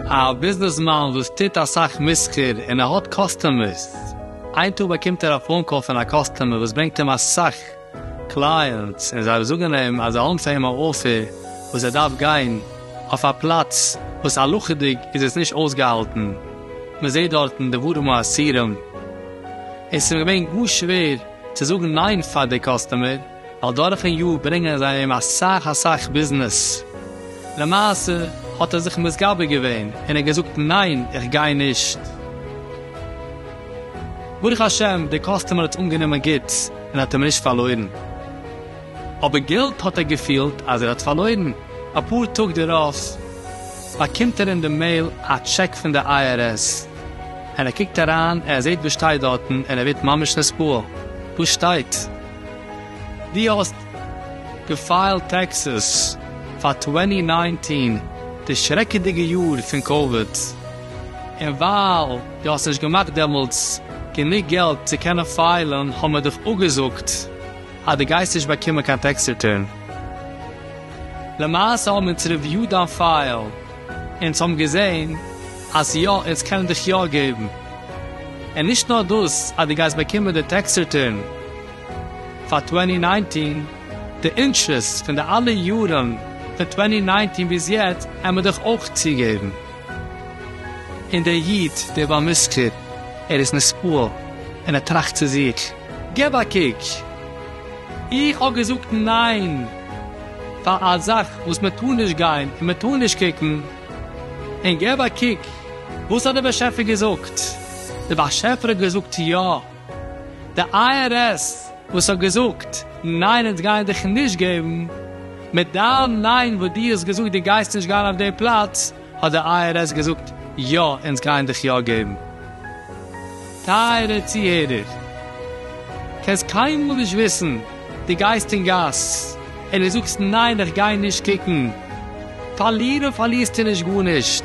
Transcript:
א ביזנעסמאן וואס טוט אסאך מסחר און ער האט קאסטומערס. איין טאג באקומט ער א פאון קאל פון א קאסטומער וואס ברענגט אים אסאך קלייענטס און זיי זאגן אים אז זיי האבן פאר אים א אפער וואס ער דארף גיין אויף א פלאץ וואס הלכה'דיג איז עס נישט אויסגעהאלטן, מען זעט דארטן דברים האסורים, עס איז אים געווען גאר שווער צו זאגן ניין פאר די קאסטומער ווייל דורכן יאר ברענגען זיי אים אסאך אסאך ביזנעס, למעשה האט ער זיך מתגבר געווען און ער האט געזאגט ניין איך גיי נישט. ברוך השם די קאסטומער האט עס אנגענומען גוט. און האט אים נישט פארלוירן. אבער געלט האט ער געפילט אז ער האט פארלוירן. אפאר טאג דערויף באקומט ער אין די מעיל א טשעק פון די איי אר עס, און ער קוקט אריין און ער זעט וואס שטייט דארטן און ער ווערט ממש נסבל. דא שטייט דו האסט געפיילט טעקסעס פאר צוואַנציק נײַנצן, די שרעקעדיגע יאר פון קאוויד, און ווייל. דו האסט נישט געמאכט דעמאלטס גענוג געלט צו קענען פיילן האבן מיר דיך אפגעזאגט אז דו גייסט נישט באקומען קיין טעקס ריטורן. למעשה האבן אונז ריוויוד דיין פייל אונז האבן געזען אז יא אונז קענען דיך יא געבן און נישט נאר דאס אז דו גייסט באקומען די טעקס ריטורן פאר טווענטי ניינטין די אינטרעסט פון די אלע יארן פון טווענטי ניינטין ביז יעצט העמיר דיך אויך צוגעבן. און דער איד, דער בעל מזכיר, ער איז נספּעל, און ער טראַכט צו זיך, גיב אַ קוק, איך האָב געזאָגט נײן פֿאַר אַ זאַך, װאָס מע טאָר נישט גײן און מע טאָר נישט קוקן, און גיב אַ קוק, װאָס האָט דער באַשעפֿער געזאָגט? דער באַשעפֿער האָט געזאָגט, יאָ! די איי אר עס וואס האט געזאגט ניין אונז גייען דיך נישט געבן, מיט דיין ניין וואס דו האסט געזאגט דו גייסט נישט גיין אויף די פלאץ, האט די איי אר עס געזאגט יא אונז גייען דיך יא געבן. טייערע צוהערער, קענסט קיינמאל נישט וויסן, דו גייסט אין גאס און דו זאגסט ניין איך גיי נישט קוקן, פארלירן פארלירסטו נישט גארנישט,